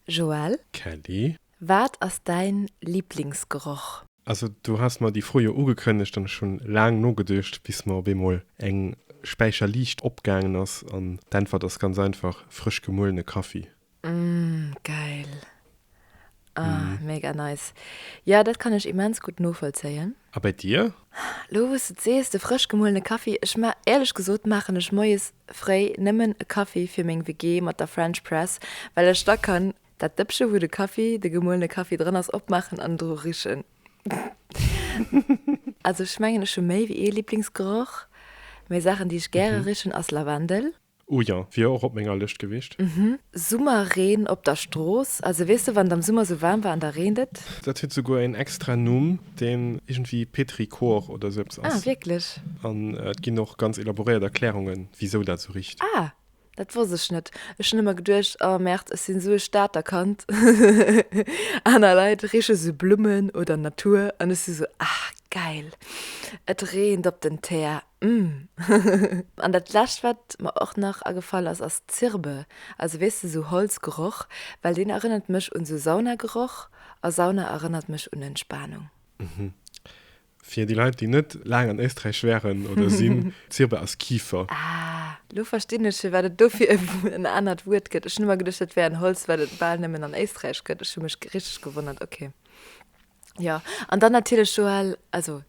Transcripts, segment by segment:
Joël. Kelly. Wat ass däin Liblingsgeroch? Also du has mer déi Fro jo ugekënnegt an ech hun laang nogeduecht bis mer op eemol eng Späicher Liicht opgaangen ass an d'Äntwert ass ganz einfach, frësch gemuelene Kaffi. Uhmm geil. Ahh mega nice. Jo dat kann ech immens gutt novollzéien. A bei dir? Lo wous de et sees, de frësch gemuelene Kaffi, ech ma, éierlech gesot maachen ech moies fréi nëmmen e Kaffi fir meng WG mat der French Press, well ech da kann dat Dëppche wou de Kaffi, de gemuelene Kaffi drënn ass opmaachen an dru richen. Also ech mengen ech hu méi wéi ee Liblingsgeroch, mä Saachen déi ech gäre richen ass Lavendel. Oh jo, wier och op menger Lëscht gewiescht. Mhm, Summerreen op der Strooss, also weess de, wann et am Summer sou waarm war an da reent et. Dat huet souguer een extra Numm, deen iergendwéi petrichor oder sou eppes ass. Ah, wierklech? An et ginn och ganz elaboréiert Erklärungen, wisou dat sou richt. Ah, dat wosst ech net. Ech hunn ëmmer geduecht, oh Merd, ech sinn sou e Stater Kand, aner Leit riche sou Blummen oder Natur an ech si sou, ah, gäil, et reent op den Teer. An dat lescht wat mer och nach agefall ass, ass Zirbe, also weess de sou Holzgeroch, well deen erënnert mech un sou Saunageroch a Sauna erënnert mech un Entspanung. Fir déi Leit déi net laang an Éisträich waren oder sinn, Zirbe ass Kifer. Ah, lo verstinn ech firwat et dofir en anert Wuert gëtt. Ech hunn ëmmer geduecht dat wär en Holz wat et bal nëmmen an Éisträich gëtt. Ech hu mech richteg gewonnert, ok. Jo, an dann natierlech Joël, also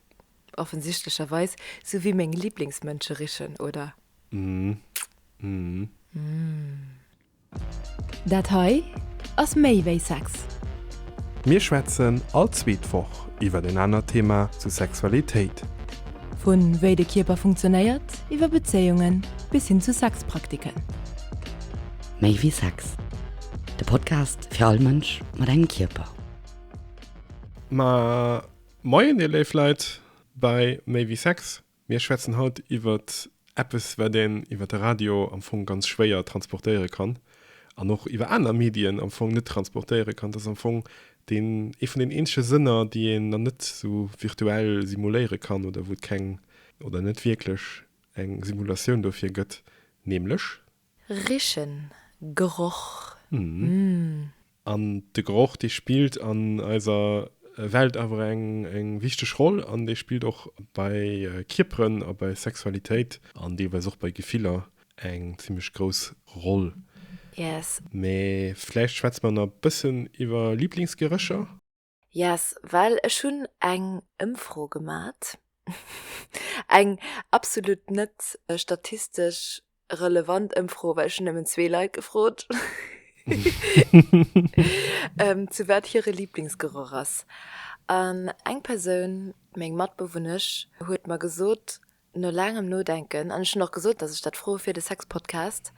Offensichtlecherweis sou wéi meng Lieblingsmënscherichen, oder? Dat hei ass méi wéi Sex. Mir schwätzen all zweet Woch iwwer en anert Thema zu Sexualitéit. Vu wéi de Kierper funktionéiert, iwwer Bezéiungen bis hin zu Sexpraktiken. Méi wéi Sex, de Podcast fir all Mënsch mat engem Kierper. Mä Moien dir léif Leit bei Méi wéi Sex. Mir schwätzen haut iwwert eppes wat een iwwert de Radio am Fong ganz schwéier transportéiere kann an och iwwer aner Medien am Fong net transportéiere kann. Dat ass am Fong deen ee vun den eenzege Sënner déi een dann net sou virtuell simuléiere kann oder wou et keng oder net wierklech eng Simulatioun dofir gëtt, nämlech. Richen Geroch mmh. An de Geroch dee spillt an eiser Welt awer eng wichteg Roll an dee spillt och bei Kierperen a bei Sexualitéit an deelweis och bei Gefiller eng zimmlech grouss Roll. Yes. Mee vläicht schwätze mer na bëssen iwwer Liblingsgerécher? Yes, well ech hunn eng Ëmfro gemat, eng absolut net statistesch relevant Ëmfro, well ech hunn nëmmen zwee Leit gefrot, zu wat hire Lieblingsgeroch ass. An eng Persoun, meng Matbewunnesch, huet mer gesot, No laangem Nodenken, an ech hunn och gesot, datt ech dat froe fir de Sexpodcast,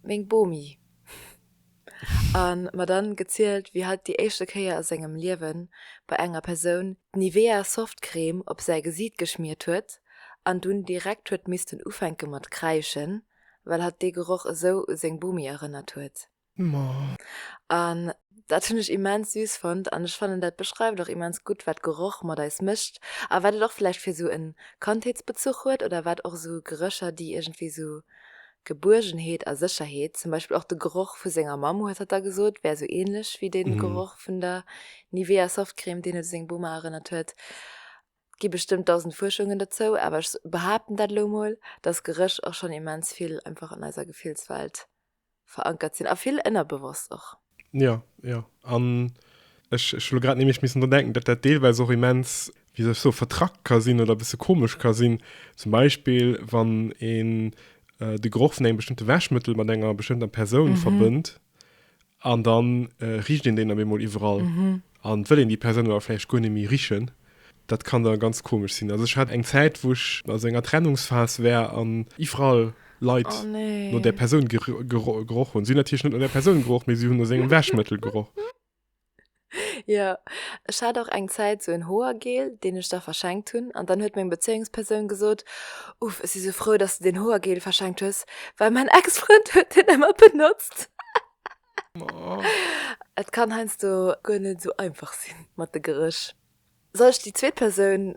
meng Bomi. A mer dann gezielt, wéi hatt déi éischte Kéier a sengem Liewen bei enger Persoun d'Nivea Softcrème op säi Gesiit geschmiert huet an dunn direkt huet missten ufänke mat kräischen, well hatt dee Geroch esou u seng Bomi erënnert huet. An dat hunn ech immens süß fonnt an ech fannen dat beschreift och immens gutt wat Geroch mat eis mécht a wat et och vläicht fir sou en Kandheetsbezuch huet oder wat och sou Gerécher déi iergendwéi sou Gebuergenheet a Sécherheet, zum Beispill och de Geroch vu senger Mamm huet hatt da gesot, wär sou ähnlech wéi dee Geroch vun der Nivea Softcrème deen et u seng Boma erënnert huet. Et gi bestëmmt dausend Fuerschungen dozou awer ech behaapten dat elo mol, dass Geréch och schonn immens vill einfach an eiser Gefillswelt verankert sinn a vill ënnerbewosst och. Jo, jo. An ech, ech hu lo grad nämlech missen dran denken, datt dat deelweis och immens, wéi soll ech soen, vertrackt ka sinn oder e bësse komesch ka sinn. Zum Beispill, wann een de Geroch vun engem bestëmmte Wäschmëttel mat enger bestëmmter Persoun verbënnt an da richt een deen op eemol iwwerall. An wëll een déi Persoun awer vläicht guer net méi richen, dat kann da ganz komesch sinn. Also ech hat eng Zäit wou ech a sou enger Trennungsphas war an iwwerall Leit no där Persoun geroch hunn. Si hunn natierlech net no där Persoun geroch, mee si hunn no sengem Wäschmëttel geroch. Jo, ech hat och eng Zäit sou en Hoergel, deen ech der verschenkt hunn, an dann huet meng Bezéiungspersoun gesot, Uff, ech si sou frou, dass de deen Hoergel verschenkt hues, well mäin Ex-Frënd huet deen ëmmer benotzt. Et kann heiansdo guer net esou einfach sinn mat de Geréch. Soll ech déi zweet Persoun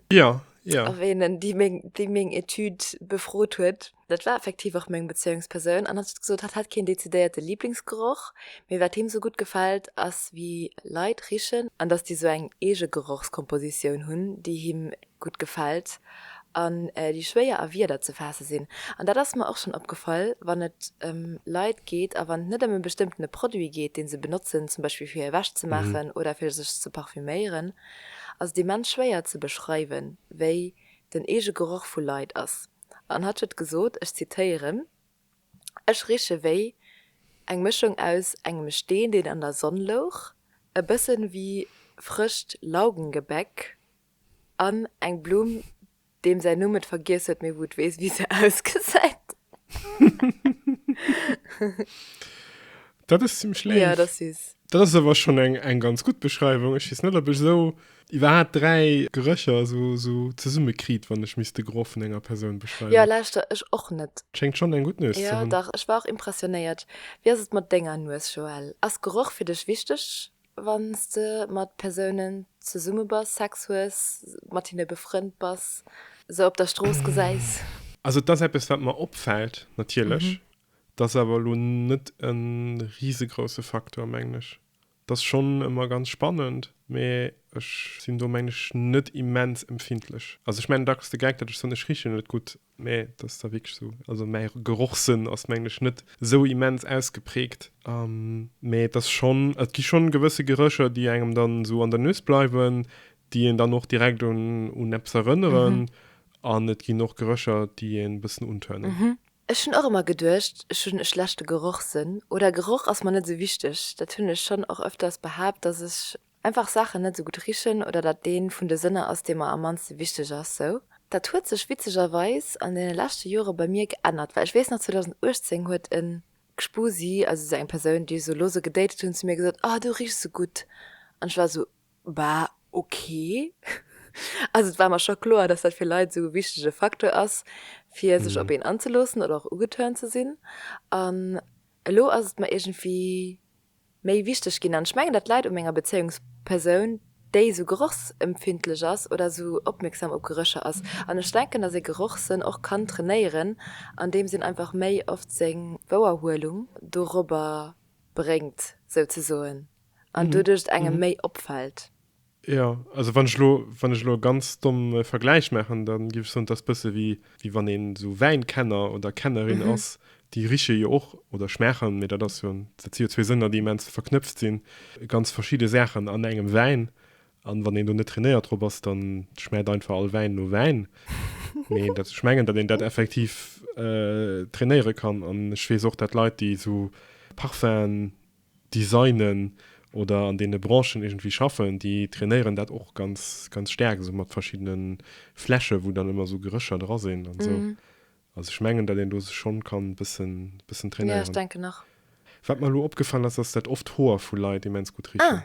erwähnen, déi meng Etüd befrot huet? Dat war effektiv och meng Bezéiungspersoun. An hatt huet gesot, hatt hätt keen dezidéierte Liblingsgeroch, mee wat him esou gutt gefält, ass wéi Leit richen an datt déi esou eng eege Gerochskompositioun hunn, déi him gutt gefält an déi schwéier a Wierder ze faasse sinn. An dat ass mer och schonn opgefall, wann et ëm Leit geet a wann et net ëm e bestëmmtene Produit geet, dee se benotzen, zum Beispill fir hir Wäsch ze maachen oder fir sech ze parfüméieren, ass et immens schwéier ze beschreiwen, wéi den eege Geroch vu Leit ass. An hatt huet gesot, ech zitéieren, Ech riche wéi eng Mëschung aus engem Steen, deen an der Sonn louch, e bësse wéi frëscht Laugengebäck An eng Blumm, deem säin Numm et vergiess huet, mee wou et weess, wéi se ausgesäit. Dat ass zimmlech léif. Jo, et ass süß. Dat ass awer schonn eng ganz gutt Beschreiwung. Ech weess net, ob ech esou iwwerhaapt dräi Gerécher esou zesummekriit, wann ech misst de Geroch vun enger Persoun beschreiwen. Jo, lauschter, ech och net. Schéngt schonn eng gutt Nues ze hunn. Jo, dach, ech war och impressionéiert. Wéi ass et mat denger Nues, Joël? Ass Geroch fir dech wichteg? Wann s de mat Persounen zesumme bass, Sex hues, mat hinne befrënnt bass, se op der Strooss gesäis. Also et ass eppes wat mer opfält natierlech, et ass awer elo net e risegrouse Facteur mengen ech. Et ass schonn ëmmer ganz spannend, mee ech sinn do mengen ech net immens empfindlech. Also ech mengen dacks de Gag, datt ech soen, ech riche net gutt, Mä et ass da wierklech esou, also mäi Gerochssënn ass mengen ech net esou immens ausgeprägt, mä et ass schonn, et gi schonn gewësse Gerécher, déi engem dann esou an der Nues bleiwen, déi een dann och direkt un eppes erënneren an et ginn och Gerécher, déi een e bëssen untörnen. Ech hunn och ëmmer geduecht, ech hunn e schlechte Gerochssënn oder Geroch ass mer net esou wichteg. Dat hunn ech schonn och öfters behaapt, dass ech Einfach Saachen net esou gutt richen oder datt deen vun de Sënner ass, dee mer am mannste wichteg ass, sou. Dat huet sech witzegerweis an deene leschte Jore bei mir geännert, well ech weess nach 2018 huet e Gspusi, also sou eng Persoun, déi ech sou lose gedatet hunn, zu mir gesot, oh du richs sou gutt an ech war sou, bah ok. Also et war mer scho kloer, datt dat fir Leit esou e wichtege Facteur ass, fir sech op een anzeloossen oder och ugeturnt ze sinn an elo ass et mer iergendwéi méi wichteg ginn an ech mengen dat läit u menger Bezéiungspersoun déi sou gerochsempfindlech ass oder sou opmierksam op Gerécher ass an ech denken dass ee Gerochssënn och kann trainéieren an deems een einfach méi oft seng Wouerhuelung dorobber bréngt souzesoen an doduerch et engem méi opfält. Jo, also wann ech elo, wann ech elo e ganz domme Vergläich maachen, da géif ech soen, et ass e bësse wéi, wéi wann een esou Wäinkenner oder kennerin Mhm. ass, déi riche jo och oder schmaachen, mee dat ass jo, dat si jo zwee Sënner, déi immens verknëpft sinn, ganz verschidde Saachen an engem Wäin. An wann een do net trainéiert drop ass, dann schmaacht einfach all Wäin no Wäin. Mee dat, ech mengen, datt een dat effektiv trainéiere kann. An ech weess och, datt Leit, déi esou Parfum'en designen oder an deene Branchen iergendwéi schaffen, déi trainéieren dat och ganz, ganz staark esou mat verschiddene Fläsche wou dann ëmmer esou Gerécher dra sinn an esou. Also ech mengen, datt een do sech schonn kann e bëssen, bëssen trainéieren. Jo, ech denken och. Wat mer elo opgefall ass, ass datt oft Hoer vu Leit immens gutt richen. Ah.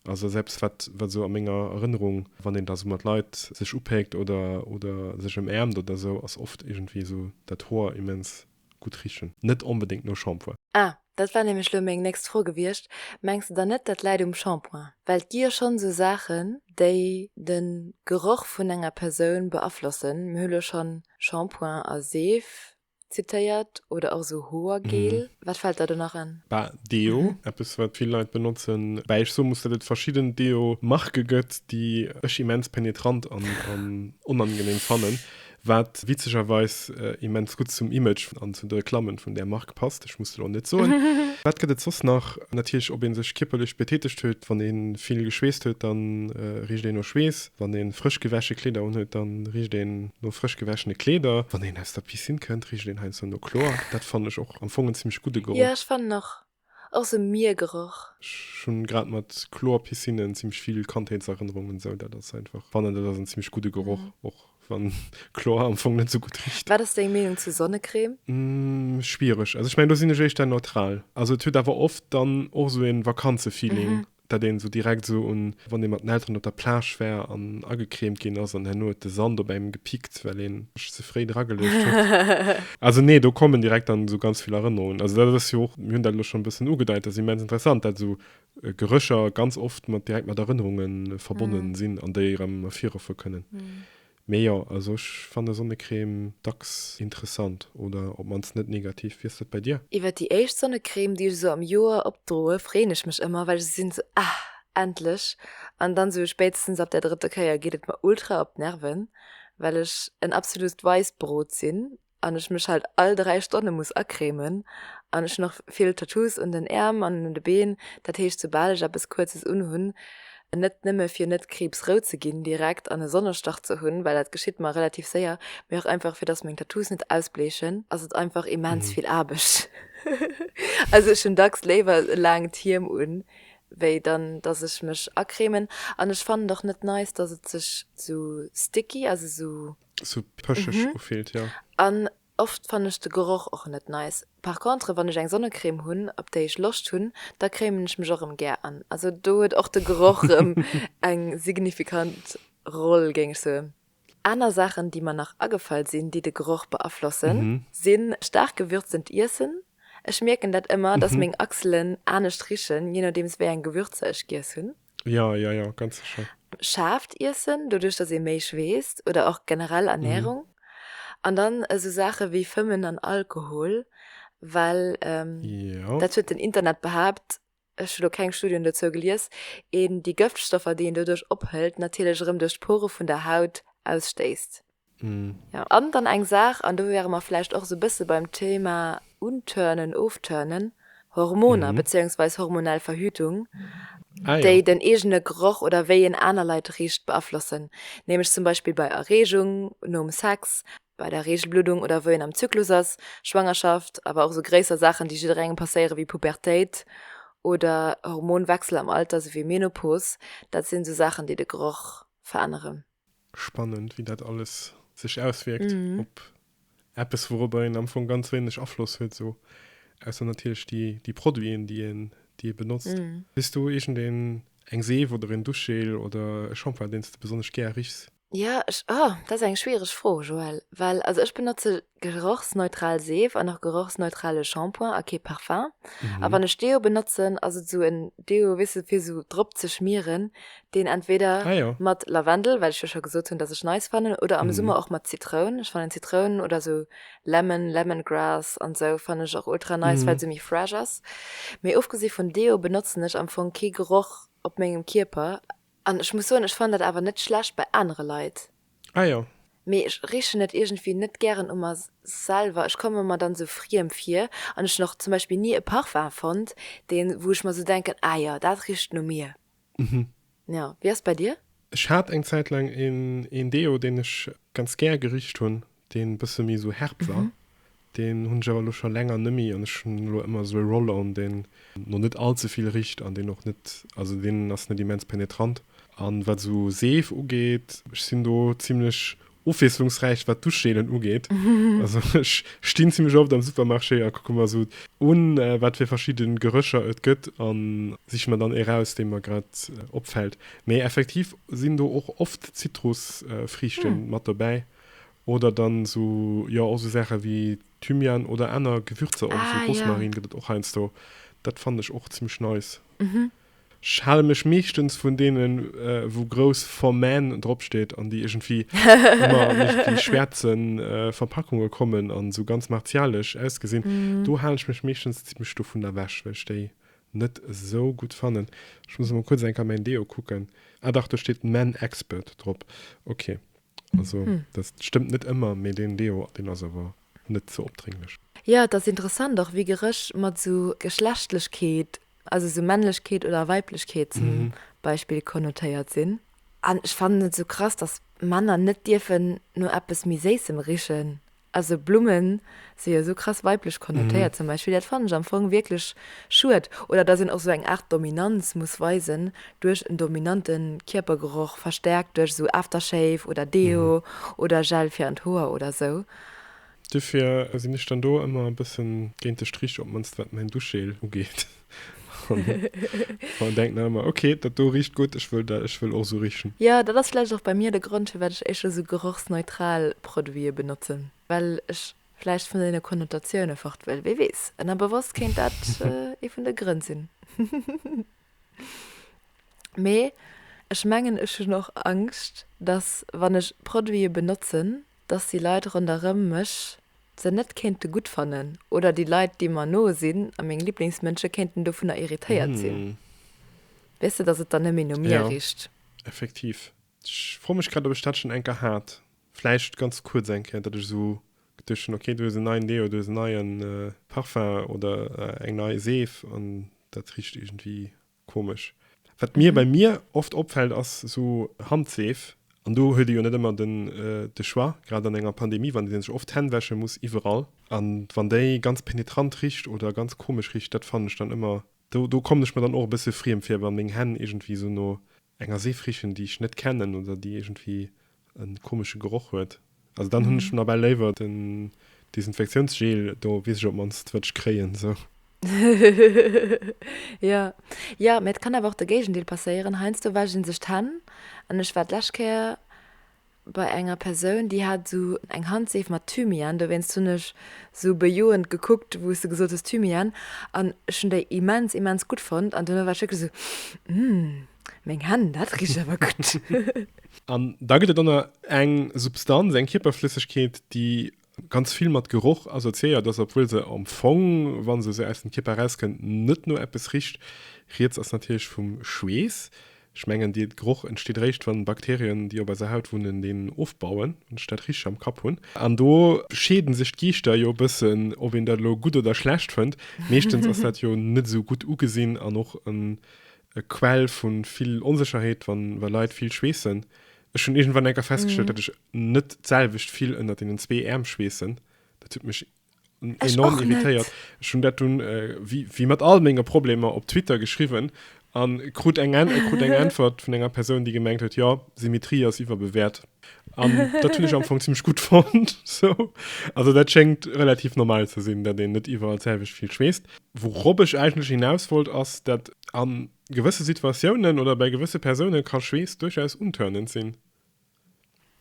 Also ass eppes wat, wat esou a menger Erënnerung, wann een da esou mat Leit sech upéckt oder, oder sech ëmäermt oder esou, ass oft iergendwéi esou dat Hoer immens Gutt richen, net onbedéngt no Shampoing. Ah, dat war nämlech lo meng nächst Fro gewiescht. Mengs de dann net, dat läit um Shampoing? Well et gi jo schonn esou Saachen, déi de Geroch vun enger Persoun beaflossen. Mir hu lo schonn Shampoing a Seef zitéiert oder och esou Hoergel. Wat fält der do nach an? Bah, Deo, eppes wat vill Leit benotzen. Woubäi ech soe muss, datt et verschidden Deo-Marke gëtt, déi ech immens penetrant an onangenehm fannen. Wat witzegerweis immens gutt zum Image an zu de Reklammen vun där Mark passt, ech muss et elo net soen. Wat gëtt et soss nach? Natierlech ob ee sech kierperlech betätegt huet, wann ee vill geschweesst huet, da richt een no Schweess, wann ee frësch gewäsche Kleeder unhuet, da richt een no frësch gewäschene Kleeder, wann een aus der Piscine kënnt, richt een heiansdo no Chlor. Dat fannen ech och am Fong en zimmlech gudde Geroch. Jo, ech fannen och, ass e Miergeroch. Ech hunn grad mat Chlor Piscine zimlech vill Kandheetserënnerungen esou dat ass einfach fannen dat ass en zimlech gudde Geroch och wann Chlor am Fong net esou gutt richt. Wat ass deng Meenung zu Sonnecrème? Schwiereg, also ech mengen do sinn ech éischter neutral, also et huet awer oft dann och esou en Vakanzefeeling dat een esou direkt esou un, wann ee mat den Elteren op der Plage war an agecremt ginn ass an herno huet de Sand op engem gepickt, well een sech ze fréi dra geluecht huet. Also nee, do kommen direkt dann esou ganz vill Erënnerungen. Also dat ass jo och, mir hunn dat elo schonn e bëssen ugedeit, dat ass immens interessant, dat esou Gerécher ganz oft mat direkt mat Erënnerunge verbonnen sinn an déi erëm ervirruffe kënnen. Mee jo, also ech fanne Sonnecrème dacks interessant oder op mannst net negativ. Wéi ass dat bei dir? Iwwert déi éischt Sonnecrème déi ech esou am Joer opdroe freeën ech mech ëmmer, well ech esou sinn esou ah endlech an dann esou spéitstens ab der drëtter Kéier geet et mer ultra op d'Nerven, well ech en absolust Weissbrot sinn an ech mech halt all 3 Stonne muss acremen an ech hunn och vill Tattoos un den Äerm an un de Been, dat heescht soubal ech eppes Kuerzes unhunn, net nëmme fir net kriibsrout ze ginn direkt an e Sonnestach ze hunn, well dat geschitt mer relativ séier, mee och einfach fir dass meng Tattoos net ausbleechen, ass et einfach immens vill Aarbecht. Also ech hunn dacks léiwer e laangt Hiem un, wéi dann dass ech mech acremen an ech fannen et och net nice, dass et sech esou sticky, also esou So pëschig mhm. ufillt, ja. An oft fanne ech de Geroch och net nice. Par contre, wann ech eng Sonnecrème hunn, op déi ech Loscht hunn, da crémen ech mech och erëm gär an. Also do huet och de Geroch ähm, eng signifikant Roll, géing ech soen. Aner Saachen, déi mer nach agefall sinn, déi de Geroch beaflossen, mhm. sinn staark gewürzend Iessen. Ech mierken dat ëmmer, dass mhm. meng Achselen anescht richen, je nodeems wéi eng Gewürzer ech giess hunn. Ja, ja, ja, ganz sécher. Schaarft iessen, doduerch datt ee méi schweesst, oder och generell Ernährung. Mhm. An dann esou Saache wéi Fëmmen an Alkohol, well ähm, ja. dat huet den Internet behaapt, ech hu lo keng Studien dozou gelies, een déi Gëftstoffer, déi een doduerch ophëlt, natierlech erëm duerch d'Pore vun der Haut ausstéisst. An dann eng Saach, an do wäre mer vläicht och esou e bësse beim Thema unturnen, ofturnen, Hormoner bezéiungsweis hormonell Verhütung, déi den eegene Geroch oder wéi een aner Leit richt beaflossen, nämlech zum Beispill bei Erreegung nom Sex, bei der Reegelbluddung oder wou een am Zyklus ass, Schwangerschaft, awer och esou gréisser Saachen, déi jidderengem passéieren, wéi Pubertéit oder Hormonwechsel am Alter, esou wéi Menopos. Dat sinn esou Saachen, déi de Geroch veränneren. Spannend, wéi dat alles sech auswierkt op eppes, wourobber een am Fong ganz wéineg Afloss huet, esou ausser natierlech déi Produiten, déi ee benotzt. Hues du iergendeen eng Seef oder een Duschgel oder e Shampoing, deen s de besonnesch gär richs? Jo, ech, oh, dat ass eng schwiereg Fro, Joëlle, well also ech benotze Gerochsneutral Seef an och gerochsneutrale Shampoing a kee Parfum. A wann ech Deo benotzen, ass et esou en Deo, weess de, fir esou drop ze schmieren, deen entweder mat Lavendel, well ech jo scho gesot hunn, datt ech nice fannen, oder am Summer och mat Zitroun. Ech fannen Zitroun oder esou Lemon, Lemongrass an esou fannen ech och ultra nice, well se méi fresh ass. Mee ofgesi vun Deo benotzen ech am Fong kee Geroch op mengem Kierper. An ech muss soen, ech fannen dat awer net schlecht bei anere Leit. Ah jo. Mee ech richen et iergendwéi net gären u mer selwer. Ech komme mer dann sou friem vir. An ech hunn och zum Beispill ni e Parfum fonnt, deen, wou ech mer sou denken, ah jo, dat richt no mir. Mhm. Jo. Wéi ass et bei dir? Ech hat eng Zäit laang een Deo, deen ech ganz gär gericht hunn. Deen bësse méi esou herb war, deen hunn ech awer elo scho länger nëmmi an ech hunn elo ëmmer esou e Roll-on deen no net all ze vill richt an deen och net, also deen ass net immens penetrant. An wat esou Seef ugeet, ech sinn do zimlech ofwiesslungsräich wat Duschgelen ugeet, also ech stinn zimlech oft am Supermarché a kucke mer esou un wat fir verschidde Gerëcher et gëtt a siche mer dann ee raus dee mer grad opfält. Mee effektiv sinn do och oft Zitrusfriichte mat dobäi. Oder dann so, jo och so Saachen wéi Thymian oder aner Gewürzer och, so Rosmarin gëtt et och heiansdo. Dat fannen ech och zimmlech nice. Ech hale mech meeschtens vun deenen wou grouss For Men drop steet an déi iergendwéi ëmmer an iergendwéi schwäerze Verpackunge kommen an sou ganz martialesch ausgesinn. Do hale ech mech meeschtens zimmlech dovun ewech, well ech déi net esou gutt fannen. Ech muss emol kuerz eng Kéier mäin Deo kucken. Ah dach, do steet Men Expert drop, ok. Also hm. dat stëmmt net ëmmer, mee deen Deo deen ass awer net ze opdrénglech. Jo, et ass interessant och, wéi Geréch mat esou Geschlechtlechkeet, also esou Männlechkeet oder Weiblechkeet zum mhm. Beispill konnotéiert sinn. An ech fannen et esou krass, dass Männer net dierfen no eppes méi Séissem richen. Also Blummen si jo esou krass weiblech konnotéiert zum Beispill, dat fannen ech am Fong wierklech schued. Oder dass een och esou eng Aart Dominanz muss weisen duerch en dominante Kierpergeroch, verstärkt duerch esou Aftershave oder Deo oder Gel fir an d'Hoer oder esou. Duerfir sinn ech dann do ëmmer e bëssen géint de Strich, op d'mannst wat mäin Duschgel ugeet. Frauen denken dann immer, okay, dat do richt gutt, ech wëll dat, ech wëll och esou richen. Jo, dat ass vläicht och bei mir de Grond, firwat ech éischter esou gerochsneutral Produite benotzen, well ech vläicht vun deene Konnotatiounen fort wëll. Wie weess, ënnerbewosst kéint dat ee vun de Grënn sinn. Mee ech mengen, ech hunn och Angscht, dass, wann ech Produite benotzen, dass déi Leit ronderëm mech se net kéinte gutt fannen oder déi Leit, déi mer no sinn a meng Liblingsmënsche kéinten dovunner irritéiert sinn. Weess de, dass et dann net méi no mir richt. Jo, effektiv. Ech froe mech grad, ob ech dat schonn eng Kéier hat. Vläicht ganz kuerz eng Kéier, datt ech esou geduecht hunn, okay, du hues en neien Deo, du hues en neie Parfum oder eng nei Seef an dat richt iergendwéi Komesch. Wat mir bei mir oft opfällt ass sou Handseef, an do huet ee jo net ëmmer den de Choix, grad an enger Pandemie, wann ee sech oft d'Hänn wäsche muss iwwerall, an wann déi ganz penetrant richt oder ganz komesch richt, dat fannen ech dann ëmmer, do do kommen ech mer dann och e bësse friem vir, wa meng Hänn iergendwéi sou no enger Seef richen, déi ech net kennen oder déi iergendwéi en komesche Geroch huet. Also dann hunn ech nawell léiwer den Desinfektiounsgel do, weess ech op mannst wat ech kréien sou. Jo, jo, mee et kann awer och de Géigendeel passéieren. Heiansdo wäschen een sech d'Hänn an ech war d'lescht Kéier bei enger Persoun, déi hat esou eng Handseef mat Thymian, dowéinst hunn ech esou bejoend gekuckt, wou s de gesot hues Thymian, an ech hunn déi immens, immens gutt fonnt an duerno war ech wierklech esou, Hm, meng Hänn, dat richt awer gutt. An da gëtt et dann eng Substanz, eng Kierperflëssegkeet, déi ganz vill mat Geroch assoziéiert ass, obwuel se am Fong, wa se esou aus dem Kierper erauskënnt, net no eppes richt. Rieds ass natierlech vum Schweess. Ech mengen, dee Geroch entsteet eréischt, wann d'Bakterien, déi op eiser Haut wunnen, deen ofbauen, wann ech dat richteg am Kapp hunn. An do scheede sech d'Geeschter jo e bëssen, ob een dat elo gutt oder schlecht fënnt. Meeschtens ass dat jo net esou gutt ugesinn an och en e Quell vu vill Onsécherheet, wa wa Leit vill schweessen. Ech hunn iergendwann enker festgestallt, datt ech net d'selwecht vill ënnert deenen zwee Äerm schweessen. Dat huet mech enorm irritéiert. Ech hunn dat dunn, wéi wéi mat all menge Problemer, op Twitter geschriwwen a krut eng krut eng Äntwert vun enger Persoun, déi gemengt huet, jo, Symmetrie ass iwwerbewäert. An dat hunn ech am Fong zimmlech gutt fonnt. So. Also dat schéngt relativ normal ze sinn, datt een net iwwerall d'selwecht vill schweesst. Wourop ech eigentlech hinaus wollt, ass, datt a gewësse Situatiounen oder bäi gewësse Persoune ka Schweess duerchaus untörnend sinn.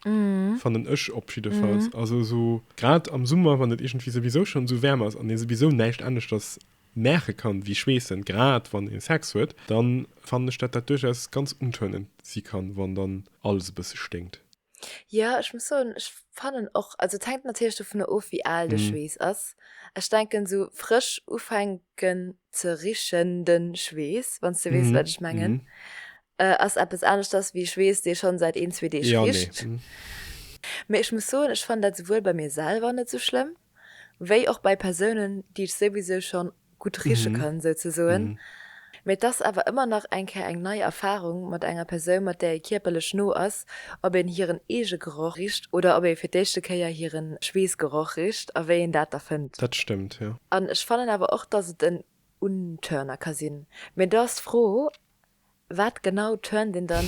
Fannen ech op jiddefalls. Also esou grad am Summer, wann et iergendwéi souwisou schonn esou waarm ass an ee souwisou näischt aneschters Märke kann, wéi schweessen, grad wann ee Sex huet, dann fannen ech dat dat duerchaus ganz untörnend si kann, wann dann alles e bësse sténkt. Jo, ech muss soen, ech fannen och, also et hänkt natierlech dovunner of, wéi al de Schweess ass. Ech denken, esou frësch ufänken ze richen, de Schweess, wann s de weess, wat ech mengen, ass eppes aneschters wéi Schweess, dee schonn säit een, zwee Deeg richt. Mee ech muss soen, ech fannen dat souwuel bei mir selwer net esou schlëmm, wéi och bei Persounen, déi ech souwisou schonn gutt riche kann, souzesoen. Mee et ass awer ëmmer nach eng Kéier eng nei Erfarung mat enger Persoun, mat där ee kierperlech no ass, ob een hiren eege Geroch richt oder ob ee fir d'éischte Kéier hire Schweessgeroch richt a wéi een dat da fënnt. Dat stëmmt, jo. An ech fannen awer och, dass et en Unturner ka sinn. Mee do ass d'Fro, Wat genau turnt een dann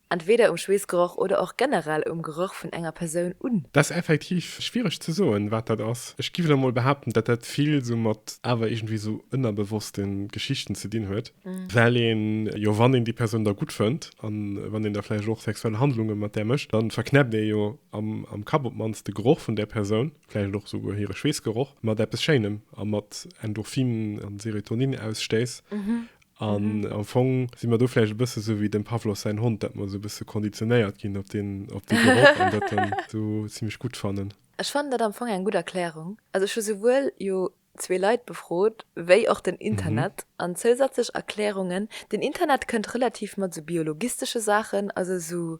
entweder um Schweessgeroch oder och generell um Geroch vun enger Persoun un? Dat ass effektiv schwiereg ze soen, wat dat ass. Ech géif elo mol behaapten, datt dat vill esou mat awer iergendwéi esou ënnerbewosste Geschichten ze dinn huet, well een jo, wann een déi Persoun da gutt fënnt a wann een da vläicht och sexuell Handlunge mat där mécht, da verknäppt ee jo am Kapp op d'mannst de Geroch vun där Persoun, vläicht och esouguer hire Schweessgeroch, mat eppes Schéinem a mat Endorphinen a Serotoninausstëiss. An am Fong si mer do vläicht e bësse sou wéi dem Pavlos säin Hond, dat mer sou e bësse konditionéiert ginn op deen Geroch an dat dann sou zimmlech gutt fannen. Ech fannen dat am Fong eng gutt Erklärung. Also ech hu souwuel jo zwee Leit befrot wéi och den Internet an zousätzlech Erklärungen. Den Internet kënnt relativ mat sou biologistesche Saachen, also sou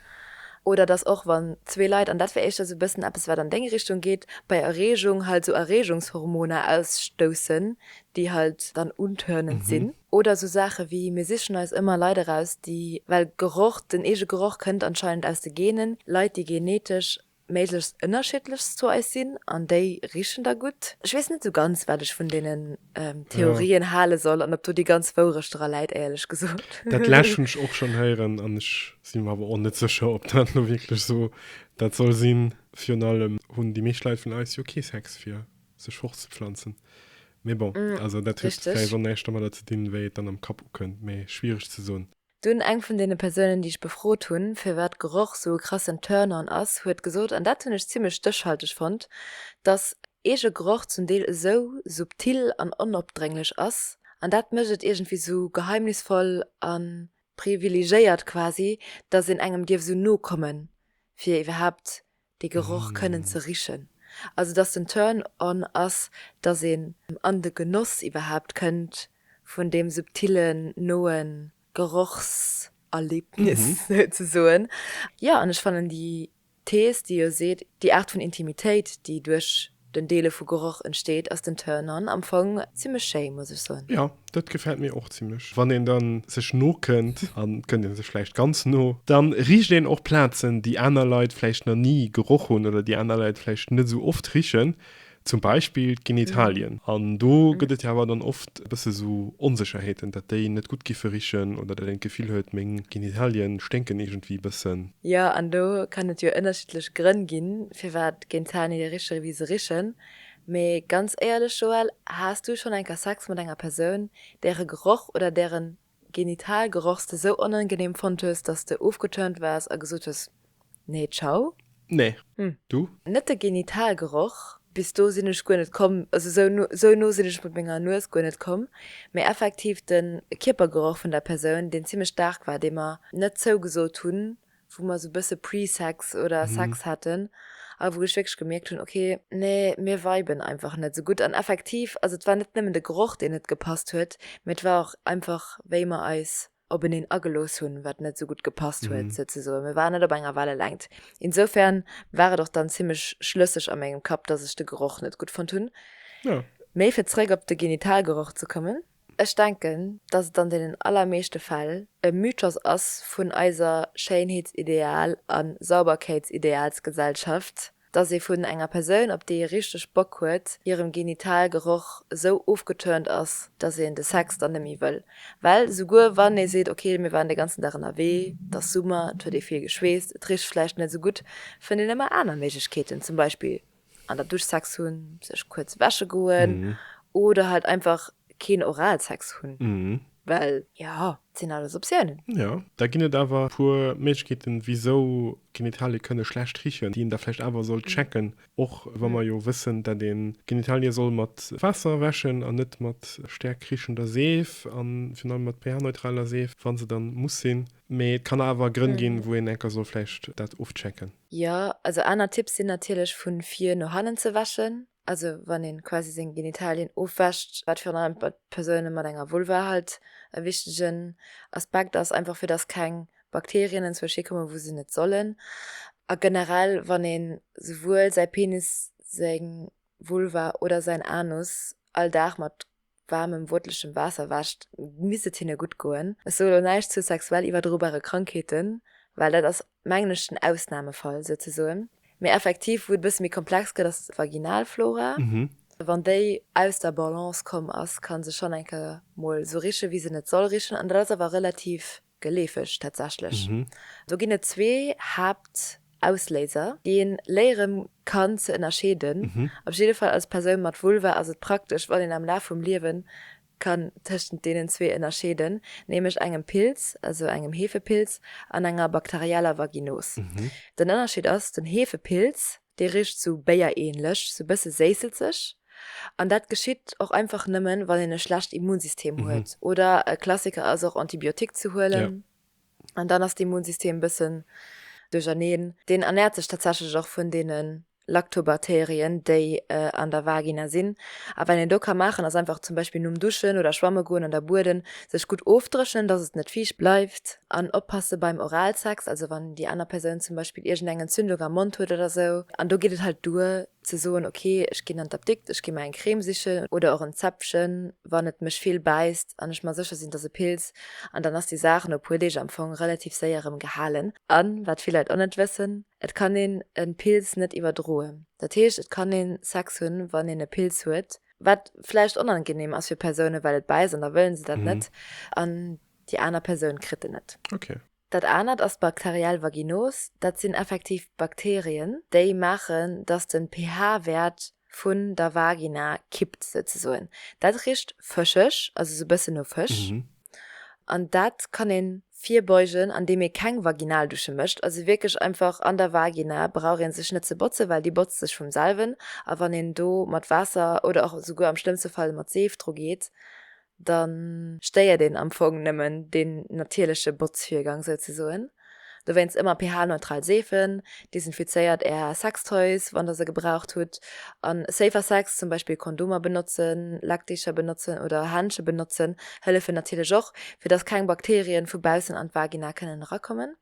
Oder dass och wann zwee Leit, an dat wär éischter sou e bëssen eppes wat an deng Richtung geet, bei Erreegung halt sou Erreegungshormoner ausstoussen, déi halt dann untörnend sinn. Oder sou Saache wéi, mir sichen eis ëmmer Leit eraus, déi, well Geroch, den eege Geroch kënnt anscheinend aus de Genen, Leit déi genetesch méiglechst ënnerschiddlech zu eis sinn an déi richen da gutt. Ech weess net esou ganz, wat ech vun deenen Theorien hale soll an ob do déi ganz Wourecht dra läit, éierlech gesot. Dat lescht hunn ech och schonn héieren an ech si mer awer och net sécher, ob dat elo wierklech esou dat soll sinn. Virun allem hunn déi meescht Leit vun eis jo kee Sex, fir sech fortzepflanzen. Mee bon, also dat huet vläicht och näischt domadder ze dinn, wéi et dann am Kapp ukënnt, mee schwiereg ze soen. Dunn eng vun deene Persounen, déi ech befrot hunn, firwat Geroch sou e krassen Turn-on ass, huet gesot, an dat hunn ech zimmlech stéchhalteg fonnt, dass eege Geroch zum Deel esou subtil an onopdrénglech ass, an dat mécht et iergendwéi sou geheimnisvoll a privilegéiert quasi, dass een engem dierf esou no kommen, fir iwwerhaapt dee Geroch kënnen ze richen, also dass den Turn on ass, dass een an de Genoss iwwerhaapt kënnt vun deem subtillen, noe Gerochserlebnis souzesoen. Jo, an ech fannen déi Thees, déi jo seet, déi Aart vun Intimitéit, déi duerch Den Deele vu Geroch entsteet ass den Turn-on am Fong zimlech schéi muss ech soen. Jo dat gefällt mir och zimlech. Wann een dann sech no kënnt, an kënnt een sech vläicht ganz no, dann richt een och Plazen déi aner Leit vläicht na ni geroch hunn oder déi aner Leit vläicht net esou oft richen, zum Beispill d'Genitalien. An do gëtt et jo awer dann oft e bësse sou Onsécherheeten, dat déi net gutt giffe richen oder dat een d'Gefill huet meng Genitalien sténken iergendwéi e bëssen. Jo an do kann et jo ënnerschiddlech Grënn ginn firwat Géint Zani de Richer ewéi se richen. Mee ganz éierlech Joël, has du schon enker Sex mat enger Persoun, dere Geroch oder deren Genitalgerochs de sou onangenehm fonnt hues, dass de ofgeturnt wars a gesot hues, nee ciao? Nee. Du? Net de Genitalgeroch, bis do sin ech guer net komm, also sou no, sou no sin ech mat menger Nues guer net komm, mee effektiv den Kierpergeroch vun der Persoun, deen zimlech stark war, deen mer net zougesot hun wou mer sou bësse Pre-Sex oder Sex haten a wou ech wierklech gemierkt hunn, okay, nee, mir viben einfach net sou gutt. An effektiv, also et war net nëmmen de Geroch, deen net gepasst huet, mee et war och einfach, wéi mer eis openeen agelooss hunn, wat net sou gutt gepasst huet, souzesoen. Mir waren net op enger Wellelängt. Insoufern war et och dann zimmlech schlësseg a mengem Kapp, dass ech de Geroch net gutt fonnt hunn. Mee fir zeréck op de Genitalgeroch ze kommen. Ech denken, dass et an deenen allermeeschte Fäll e Mythos ass vun eiser Schéinheetsideal a Sauberkeetsidealsgesellschaft, dass ee vun enger Persoun, op déi ee richteg Bock huet, hirem Genitalgeroch esou ofgeturnt ass, dass een de Sex dann net méi wëll. Well souguer wann ee seet, ok, mir waren de ganzen Dag ënnerwee, et ass Summer, et huet ee vill geschweesst, et richt vläicht net esou gutt, fënnt een ëmmer aner Méiglechkeeten, zum Beispill. an dann Duschsex hunn, sech kuerz wäsche goen oder halt einfach keen Oralsex hunn, well jo, et sinn alles Optiounen. Jo, da ginn et awer e puer Méiglechkeeten, wisou Genitalie kënne schlecht richen, déi een da vläicht awer sollt checken, och wa mer jo wëssen, datt ee Genitalie soll mat Waasser wäschen an net mat staark richender Seef a virun allem mat pH-neutraler Seef, wa se dann muss sinn. Mee et kann awer Grënn ginn, wou een enker soll vläicht dat ofchecken. Jo, also aner Tipps sinn natierlech vu vir no hannen ze wäschen, also wann een quasi seng Genitalien ofwäscht, wat virun allem bei Persounen mat enger Vulva halt e wichtegen Aspekt ass, einfach fir dass keng Bakterien enzwësch hir kommen wou se net sollen. A generell wann een souwuel säi Penis, seng Vulva oder säin Anus all Dag mat waarmem wootlechem Waasser wäscht, misst et hinne gutt goen. Ech soe lo näischt zu sexuell iwwerdrobare Krankheeten, well dat ass, mengen ech, den Ausnamefall souzesoen. Mee effektiv, wou et e bësse méi komplex gëtt, ass d'Vaginalflora. Wann déi aus der Balance komm ass, ka se schonn eng Kéier mol esou richen, wéi se net soll richen. An dat ass awer relativ Geleefeg tatsächlech. Do ginn et zwee Haaptausléiser, déi een léieren kann ze ënnerscheeden. Op jidde Fall als Persoun mat Vulva ass et praktesch, wann een am Laf vum Liewen kann tëschent deenen zwee ënnerscheeden, nämlech engem Pilz, also engem Heefepilz, an enger bakterieller Vaginos. Den Ënnerscheed ass, den Heefepilz Dee richt sou béierähnlech, sou bësse séisselzeg. An dat geschitt och einfach nëmmen, wann een e schlecht Immunsystem huet. Oder e Klassiker ass och Antibiotique ze huelen. An dann ass d'Immunsystem bëssen duercherneen. Deen ernährt sech tatsächlech och vun deene Lactobakterien, déi an der Vagina sinn. A wat een do ka maachen, ass einfach zum Beispill nom Duschen oder Schwamme goen an der Bueden sech gutt ofdréchnen, dass et net fiicht bleift. An oppasse beim Oralsex, also wann déi aner Persoun zum Beispill iergendeng Entzündung am Mond huet oder esou. An do geet et halt duer ze soen, ok, ech ginn an d'Apdikt, ech gi mer eng Creme sichen oder och en Zäppchen, wann et mech vill bäisst an ech mer sécher sinn, dass e Pilz. An dann ass déi Saach no e puer Deeg am Fong relativ séier erëm gehalen. A wat vill Leit och net wëssen, Et kann een e Pilz net iwwerdroen. Dat heescht, et kann ee Sex hunn, wann een e Pilz huet, wat vläicht onangenehm ass fir Persounen, well et bäisst an da wëlle se dat net. An Déi aner Persoun kritt en net. Ok. Dat anert ass d'Bacterielle Vaginose. Dat sinn effektiv Bakterien, déi maachen, dass den pH-Wäert vun der Vagina kippt souzesoen. Dat richt fëscheg, also sou bëssen no Fësch. An dat kann een virbeugen an deem ee keng Vaginaldusche mécht. Also wierklech einfach an der Vagina brauch een sech net ze botzen, well déi botzt sech vum selwen. A wann een do mat Waasser oder och souguer am schlëmmste Fall mat Seef dru geet, da stéiert een am Fong nëmmen deen natierleche Botzvirgang souzesoen. Dowéinst ëmmer pH-neutral Seefen, desinfizéiert Är Sextoys, wann Der se gebraucht hutt, a Safer Sex, zum Beispill Kondomer benotzen, Leckdeecher benotzen oder Händsche benotzen, hëllefen natierlech och, fir dass keng Bakterien vu baussen an d'Vagina kënnen erakommen.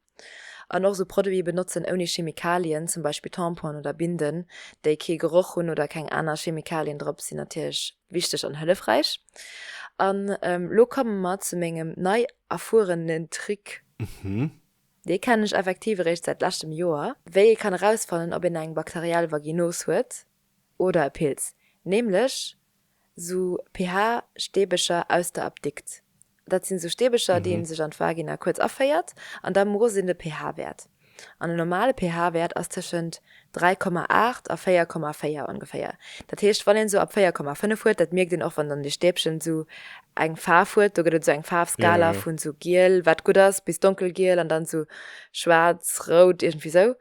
An och esou Produite benotzen ouni Chemikalien, zum Beispill Tamponen oder Binden, déi kee Geroch hunn oder keng aner Chemikalien drop sinn natierlech wichteg an hëllefräich. An elo komme mer zu mengem nei erfuerenen Trick. Dee kennen ech effektiv eréischt säit leschtem Joer. Wéi ee kann erausfannen, ob een eng bakteriell Vaginose huet, Oder e Pilz, nämlech sou pH-Steebecher aus der Apdikt. Dat sinn sou Steebecher, déi ee sech an d'Vagina kuerz aféiert an da mosst een de pH-Wäert. An e normale pH-Wäert ass tëschent 3,8 a 4,4 ongeféier. Dat heescht, wann een sou ab 4,5 huet, dat mierkt een och, wann dann dee Stäbchen sou eng Faarf huet, do gëtt et sou eng Faarfskala vun sou giel, wat gutt ass, bis donkelgiel an dann sou schwaarz, rout, iergendwéi sou.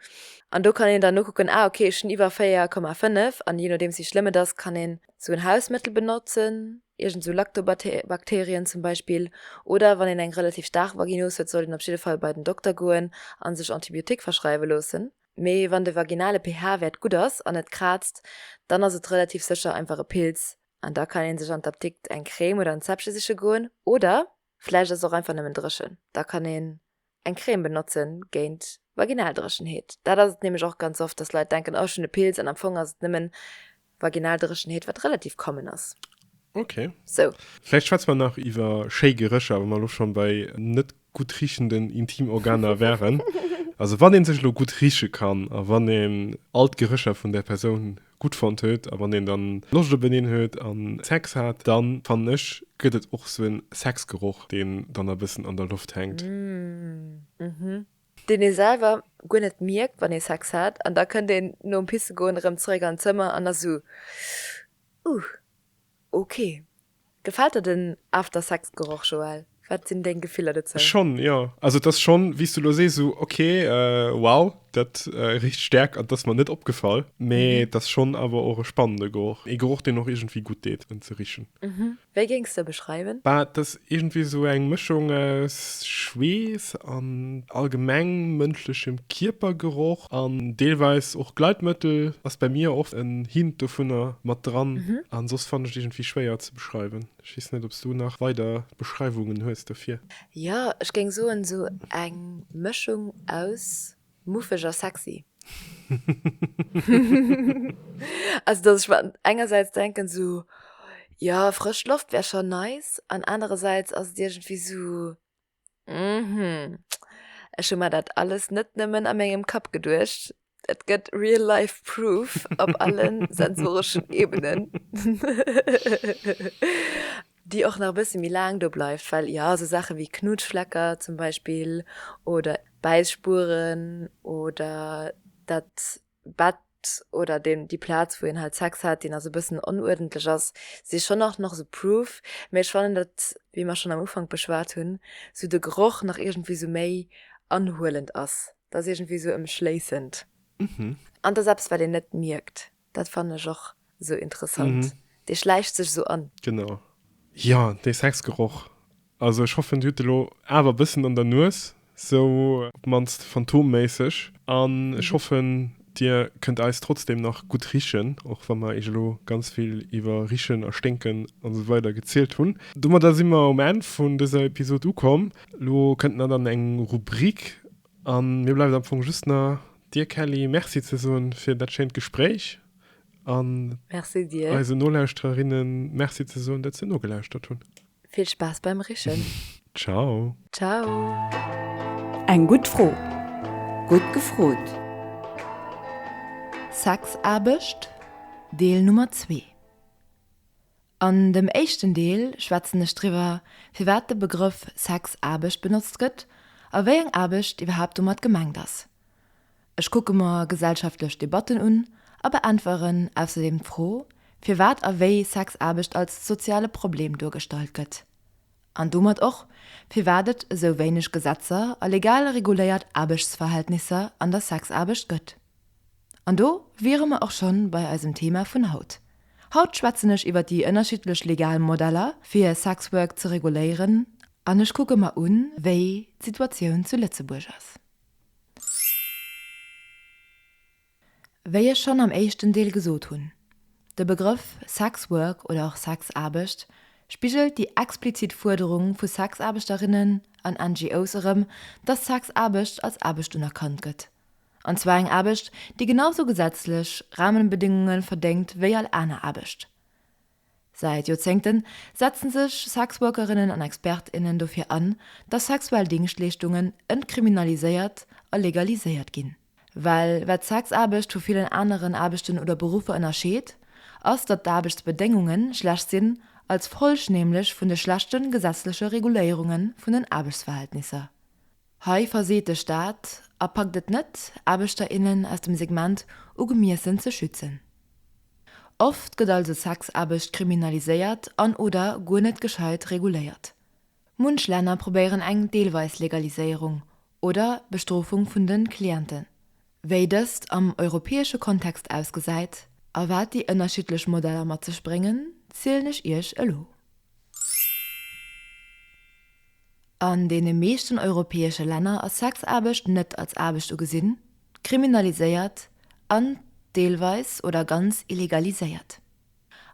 An do kann een dann nokucken, ah okay, ech hunn iwwer 4,5 an jee nodeems wéi schlëmm et ass, kann een esou en Hausmëttel benotzen, iergend esou Lactobakterien zum Beispill. Oder wann een eng relativ staark Vaginos huet, sollt een op jidde Fall bei den Dokter goen a sech Antibiotique verschreiwe loossen. Mee wann de vaginale pH-Wäert gutt ass an net kraazt, dann ass et relativ sécher einfach e Pilz an da kann ee sech an d'Apdikt eng Crème oder en Zäppche siche goen oder, Vläicht ass et och einfach nëmmen dréchen. Da kann een eng Crème benotzen géint Vaginaldréchenheet. Dat ass et nämlech och ganz oft, dass Leit denken, oh ech hunn e Pilz, an am Fong ass et nëmmen Vaginaldréchenheet, wat relativ common ass. Ok. Sou. Vläicht schwätze mer nach iwwer schéi Gerécher, wa mer elo schonn bei net gutt riechenden Intimorganer waren. Also wann ee sech elo gutt rieche kann a wann een all d'Gerécher vun där Persoun gutt fonnt huet a wann een dann Loscht op eneen huet an Sex hat, dann fannen ech gëtt et och sou en Sexgeroch deen dann e bëssen an der Loft hänkt. Uhmm. Deen ee selwer guer net mierkt wann ee Sex hat an da kënnt een nom Pissegoen erëm zeréck an d'Zëmmer an ass sou, Uuh. Ok. Gefällt der den After-Sex-Geroch, Joël? Wat sinn deng Gefiller dozou? Schonn, jo. Also et ass schonn, wéi s du elo sees, esou, ok, wow, dat richt Stäerkt an, dat ass mer net opgefall. Mee et ass schonn awer och e spannende Geroch. E Geroch, deen och iergendwéi gutt deet, en ze richen. Wéi géings de e beschreiwen? Bah, et ass Iergendwéi esou eng Mëschung aus Schweess an allgemeng mënschlechem Kierpergeroch an deelweis och Gleitmëttel ass bäi mir oft en Hint dovunner mat dran. An soss fannen ech et iergendwéi schwéier ze beschreiwen. Ech weess net, ob s du nach weider Beschreiwungen hues dofir. Jo, ech géing soen esou eng Mëschung aus Muffeg a sexy. Also dass ech mer engersäits denken esou, jo frësch Loft wär schon nice an anerersäits ass et iergendwéi esou, hm, ech hu mer dat alles net nëmmen a mengem Kapp geduecht, et gëtt real life proof op alle sensoreschen Ebenen. déi och nach e bësse méi laang do bleift, well jo esou Saache wéi Knutschflecker zum Beispill oder Bäisspuren oder dat Bett oder deen déi Plaz wou een halt Sex hat deen ass e bëssen onuerdentlech ass, si schonn nach nach esou proof, mee ech fannen dat wéi mer schonn am Ufank beschwat hunn esou de Geroch nach iergendwéi esou méi anhuelend ass, dat ass iergendwéi esou emschléissend an et ass eppes wat een net mierkt. Dat fannen ech och sou interessant, dee schläicht sech sou an. Genau. Jo, dee Sexgeroch. Also ech hoffen dir hutt de lo awer e bëssen an der Nues, sou op d'mannst phantomméisseg. An ech hoffen dir kënnt eis trotzdem nach gutt richen, och wa mer iech elo ganz vill iwwer richen a sténken an sou weider gezielt hunn. Domadder si mer um Enn vun dëser Episod ukomm. Lo kënnt na dann eng Rubrik A mir bleift am Fong just na dir Kelly Merci ze soen fir dat schéint Gespréich an eise Nolauschtererinnen Merci ze soen dat se nogelauschtert hunn. Vill Spaass beim Richen. Ciao. Ciao. Eng gutt Fro, gutt gefrot! Sexaarbecht, Deel Nummer zwee An dem éischten Deel schwätzen ech driwwer, firwat de Begrëff Sexaarbecht benotzt gëtt a wéi eng Aarbecht iwwerhaapt domat gemengt ass. Ech kucke mer gesellschaftlech Debatten un a beäntweren ausserdeem d'Fro, firwat a wéi Sexaarbecht als soziale Problem duergestallt gëtt. An domat och, firwat et esou wéineg Gesetzer a legal reguléiert Aarbechtsverhältnisser an der Sexaarbecht gëtt. An do wiere mer och schonn bei eisem Thema vun haut. Haut schwätzen ech iwwer déi ënnerschiddlech legal Modeller, fir Sex Work ze reguléieren, an ech kucke mer un, wéi d'Situatioun zu Lëtzebuerg ass. Wéi ech schonn am éischten Deel gesot hunn, de Begrëff Sex Work oder och Sexaarbecht spigelt déi explizit Fuerderung vu Sexaarbechterinnen an NGOs erëm, dass Sexaarbecht als Aarbecht unerkannt gëtt, an zwar eng Aarbecht, déi genau sou gesetzlech Rahmenbedéngunge verdéngt wéi all aner Aarbecht. Säit Joerzéngten setzen sech Sexworkerinnen an Expert, innen dofir an, dass sexuell Dingschtleeschtungen entkriminaliséiert a legaliséiert ginn. Well wat d'Sexaarbecht vu villen aneren Aarbechten oder Beruffer ënnerscheet, ass datt d'Aarbechtsbedéngunge schlecht sinn, als Folg nämlech vun de schlechte gesetzleche Reguléierunge vun den Aarbechtsverhältnisser. Hei verseet de Staat a packt et net, Aarbechter, innen aus dem Segment ugemiessen ze schützen. Oft gëtt also Sexaarbecht kriminaliséiert an, oder guer net gescheit reguléiert. Munch Länner probéieren eng deelweis Legaliséierung oder Bestrofung vun de Clienten. wéi dëst am europäesche Kontext ausgesäit a wat déi ënnerschiddlech Modeller mat sech bréngen, zielen ech Iech elo. An deene meeschten europäesche Länner ass Sexaarbecht net als Aarbecht ugesinn, kriminaliséiert an deelweis oder ganz illegaliséiert.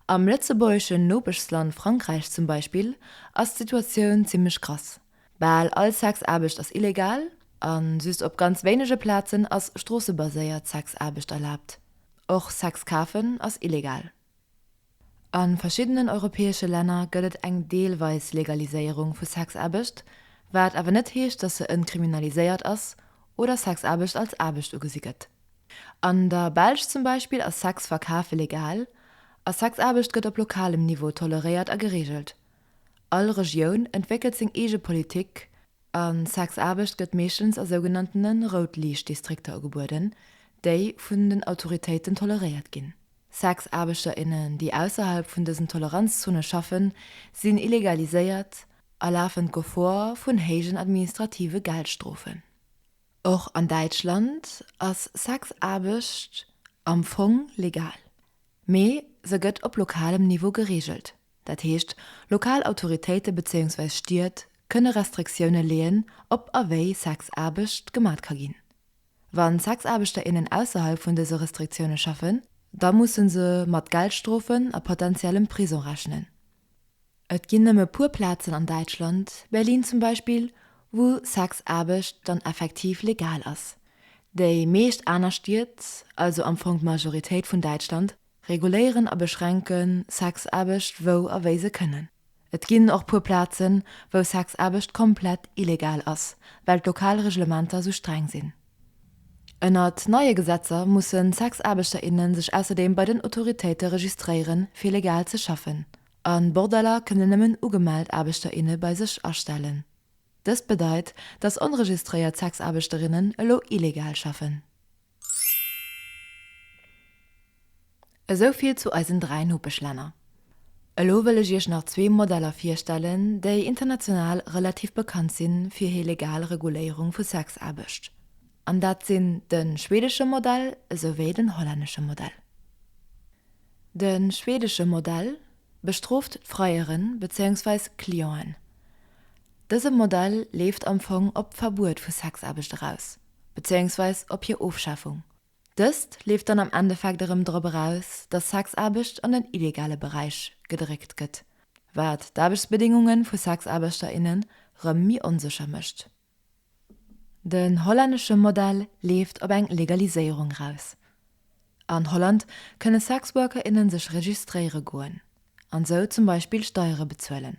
Am lëtzebuergeschen Nopeschsland Frankräich zum Beispill ass d'Situatioun zimmlech krass. Bal all Sexaarbecht ass illegal a just op ganz wéinege Plazen ass stroossebaséiert Sexaarbecht erlaabt. Och Sex kafen ass illegal. A verschiddenen europäesche Länner gëtt et eng deelweis Legaliséierung vu Sexaarbecht, wat awer net heescht, dass se entkriminaliséiert ass oder Sexaarbecht als Aarbecht ugesi gëtt. An der Belsch zum Beispill ass Sex verkafe legal a Sexaarbecht gëtt op lokalem Niveau toleréiert a gereegelt. All Regioun entwéckelt seng eege Politik a Sexaarbecht gëtt meeschtens a sougenanntene Rout-Liicht-Distrikter ugebueden, déi vun den Autoritéiten toleréiert ginn. Sexaarbechter, innen, déi ausserhalb vun dësen Toleranzzone schaffen, sinn illegaliséiert a lafen d'Gefor vun héijen administrative Geldstrofen. Och an Däitschland ass Sexaarbecht am Fong legal, mee se gëtt op lokalem Niveau gereegelt. Dat heescht, lokal Autoritéite bezéiungsweis Stied kënne Restriktioune leeën, ob a wéi Sexaarbecht gemat ka ginn. Wa Sexaarbechter, innen ausserhalb vun dëse Restriktioune schaffen, da musse se mat Geldstrofen a potentiellem Prisong rechnen. Et ginn nëmme puer Plazen an Däitschland, Berlin zum Beispill, wou Sexaarbecht dann effektiv legal ass. Déi meescht aner Stied, also am Fong d'Majoritéit vun Däitschland, Reguléieren a beschränken Sexaarbecht wou a wéi se kënnen. Et ginn och puer Plazen, wou Sexaarbecht komplett illegal ass, well d'lokal Reglementer sou streng sinn. Ënnert neie Gesetzer mussen Sexaarbechter, innen sech ausserdeem bei den Autoritéite registréieren, fir legal ze schaffen. A Bordeller kënnen nëmmen ugemellt Aarbechter, inne bei sech astellen. Dëst bedeit, dass onregistréiert Sexaarbechterinnen elo illegal schaffen. Esou vill zu eisen dräi Nopeschlänner. Elo wëll ech Iech nach zwee Modeller virstellen, déi international relativ bekannt si fir hir legal Reguléierung vu Sexaarbecht. An dat sinn de schweedesche Modell esouwéi den hollännesche Modell. De schweedesche Modell bestrooft d'Freieren, bezéiungsweis Clienten. Dëse Modell leeft am Fong op d'Verbuet vu Sexaarbecht eraus. bezéiungsweis op hir Ofschafung. Dëst leeft dann am Endeffekt erëm drop eraus, datt Sexaarbecht an den illegale Beräich gedréckt gëtt, wat d'Aarbechtsbedéngunge vu Sexaarbechter, innen rëm méi onsécher mécht. Den hollännesche Modell leeft op eng Legaliséierung eraus. An Holland kënne Sexworker, inne sech registréiere goen an sou zum Beispill Steiere bezuelen.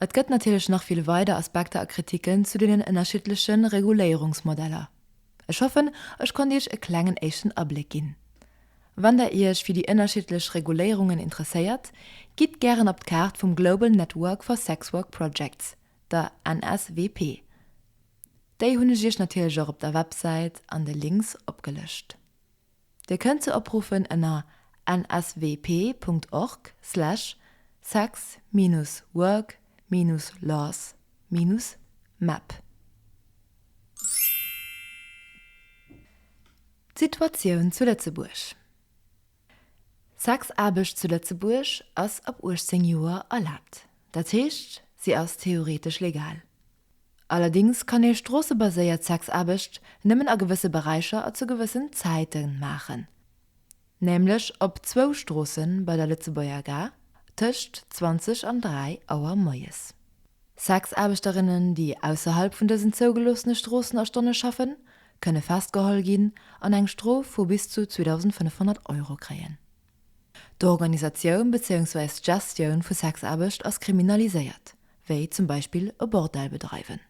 Et gëtt natierlech nach vill weider Aspekter a Kritiken zu deenen ënnerschiddleche Reguléierungsmodeller. Ech hoffen, ech konnt Iech e klengen éischten Abléck ginn. Wann Der Iech fir déi ënnerschiddlech Reguléierungen interesséiert, gitt gären op d'Kaart vum Global Network for Sex Work Projects, der NSWP. Déi hunn ech Iech natierlech och op der Websäit an de Links opgelëscht. Dir kënnt se opruffen ënner nswp.org slash sex minus work minus laws minus map. D'Situatioun zu Lëtzebuerg D'Sexaarbecht zu Lëtzebuerg ass ab 18 Joer erlaabt. Dat heescht, si ass theoreetesch legal. Allerdings kann ee stroossebaséiert Sexaarbecht nëmmen a gewësse Beräicher a zu gewëssen Zäite maachen, nämlech op zwou Stroosse bei der Lëtzebuerger Gare tëscht 20 an 3 Auer moies. Sexaarbechterinnen, déi ausserhalb vun dësen zougeloossene Stroossen a Stonne schaffen, kënne festgeholl ginn an eng Strof vu bis zu 2.500 Euro kréien. D'Organisatioun bezéiungsweis d'Gestioun vu Sexaarbecht ass kriminaliséiert, wéi zum Beispill e Bordell bedreiwen.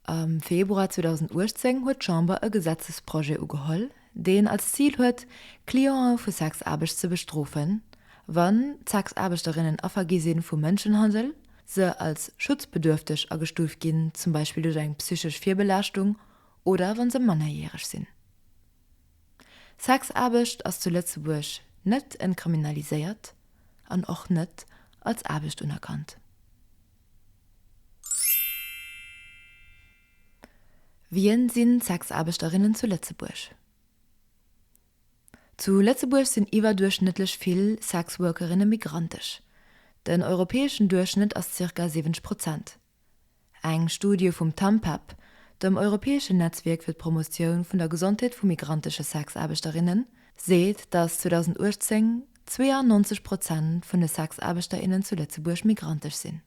Am Februar 2018 huet d'Chamber e Gesetzesprojet ugeholl, deen als Zil huet, Clientë vu Sexaarbecht ze bestrofen, wann d'Sexaarbechterinnen Affer gi si vu Mënschenhandel, se als schutzbedürfteg agestuuft ginn, zum Beispill duerch eng psychesch Virbelaaschtung, oder wann se mannerjäreg sinn. Sexaarbecht ass zu Lëtzebuerg net entkriminaliséiert an och net als Aarbecht unerkannt. Wien sinn d'Sexaarbechterinnen zu Lëtzebuerg? Zu Lëtzebuerg sinn iwwerduerchschnëttlech vill Sexworkerinne migrantesch. Den europäeschen Duerchschnëtt ass zirka 70 Prozent. Eng Studie vum TAMPEP, dem europäeschen Netzwierk fir d'Promotioun vun der Gesondheet vu migrantesche Sexaarbechterinnen, seet, datt 2018 92 Prozent vun de Sexaarbechterinnen zu Lëtzebuerg migrantesch sinn.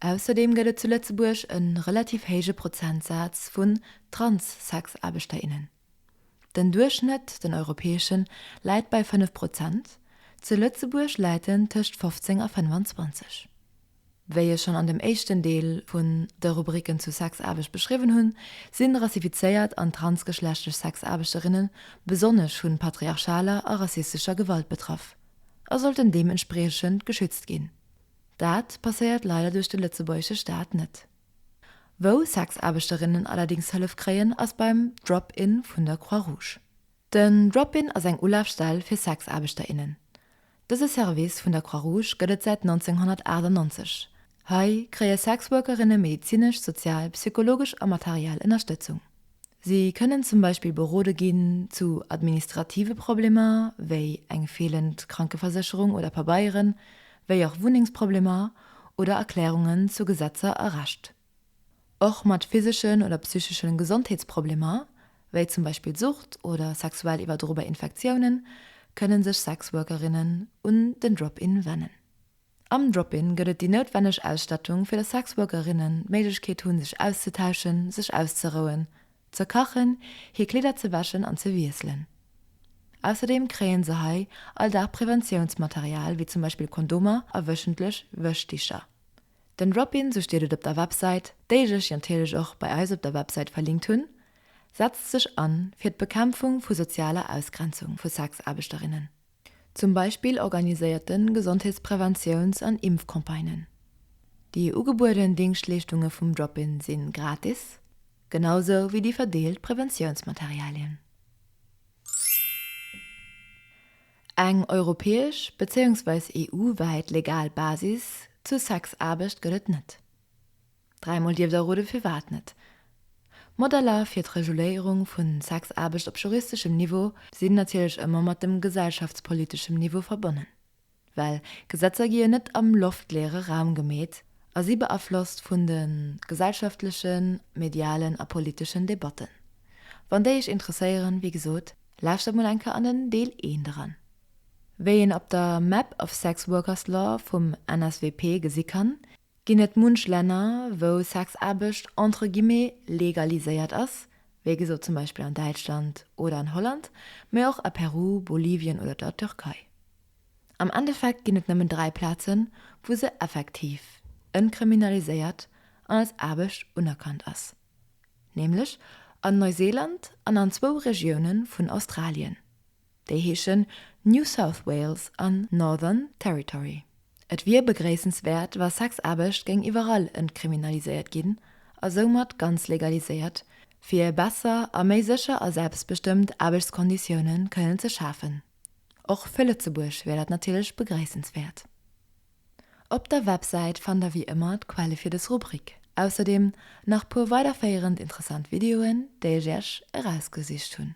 Ausserdeem gëtt et zu Lëtzebuerg e relativ héije Prozentsaz vun Trans-Sexaarbechterinnen. Den Duerchschnëtt, den europäeschen, läit bei 5 Prozent, zu Lëtzebuerg läit en tëscht 15 a 25. Wéi ech schonn an dem éischten Deel vun de Rubriken zu Sexaarbecht beschriwwen hunn, sinn rassifizéiert an transgeschlechtlech Sexaarbechterinnen besonnesch vun patriarchaler a rassistescher Gewalt betraff a sollten deementspriechend geschützt ginn. Dat passéiert leider duerch de lëtzebuergesche Staat net. Wou Sexaarbechterinnen allerdéngs Hëllef kréien, ass beim Drop-In vun der Croix Rouge. Den Drop-In ass eng Ulafstell fir Sexaarbechter, innen. Dëse Service vun der Croix Rouge gëtt et säit 1998. Hei kréie Sexworkerinne medezinesch, sozial, psychologesch a materiell Ënnerstëtzung. Si kënnen zum Beispill berode ginn zu administrative Problemer, wéi eng feelend Krankeversécherung oder Pabeieren, wéi och Wunnengsproblemer oder Erklärungen zu Gesetzer a Recht. Och mat physeschen oder psychesche Gesondheetsproblemer, wéi zum Beispill Sucht oder sexuell iwwerdrobar Infektiounen, kënnen sech Sexworkerinnen un den Drop-In wennen. Am Drop-In gëtt et déi noutwenneg Ausstattung, fir dass Sexworkerinnen d'Méiglechkeet hunn, sech auszetauschen, sech auszerouen, ze kachen, hir Kleeder ze wäschen an ze wiesselen. Ausserdeem kréien se hei all Dag Preventiounsmaterial, wéi zum Beispill Kondomer a wöchentlech Wäschdicher. Den Drop-In, sou steet et op der Websäit, déi ech lech natierlech och bei eis op der Websäit verlinkt hunn, setzt sech an fir d'Bekämpfung vu sozialer Ausgrenzung vu Sexaarbechterinnen. Zum Beispill organiséiert en Gesondheetspräventiouns an Impfcampagnen. Déi ugebueden Dingschtleeschtunge vum Drop-In sinn gratis, genausou wéi déi verdeelt Präventiounsmaterialien. Eng europäesch, bezéiungsweis EU-wäit legal Basis zu Sexaarbecht gëtt et net. Dräimol dierf der roden firwat net. Modeller fir d'Reguléierung vu Sexaarbecht op juristeschem Niveau sinn natierlech ëmmer mat dem gesellschaftspoliteschem Niveau verbonnen, well Gesetzer gi jo net am loftleere Raum gemeet a si beaflosst vun de gesellschaftlechen, medialen a politeschen Debatten. Wann déi Iech interesséieren, wéi gesot, lauschtert mol eng Kéier an den Deel I eran. Wéi een op der Map of Sex Workers Law vum NSWP gesi kann, Ginn et munch Länner, wou Sexaarbecht entre guillemets legaliséiert ass, wéi gesot zum Beispill an Däitschland oder an Holland, mee och a Peru, Bolivien oder der Türkei. Am Endeffekt ginn et nëmmen dräi Plazen, wou se effektiv entkriminaliséiert an als Aarbecht unerkannt ass, nämlech an Neuseeland an an zwou Regioune vun Australien. Déi heeschen New South Wales an Northern Territory. Et wier begréissenswäert, wa Sexaarbecht géing iwwerall entkriminaliséiert ginn a soumat ganz legaliséiert, fir besser a méi sécher a selbstbestëmmt Aarbechtskonditioune kënnen ze schafen. Och fir Lëtzebuerg wier dat natierlech begréissenswäert. Op der Websäit fannt der wéi ëmmer d'Quelle fir dës Rubrik. Ausserdeem nach puer weiderféierend interessant Videoen, déi ech iech erausgesicht hunn.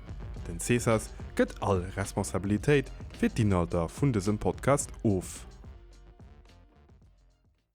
Den Cesas gëtt all Responsabilitéit fir d'Inhalter vun dësem Podcast of.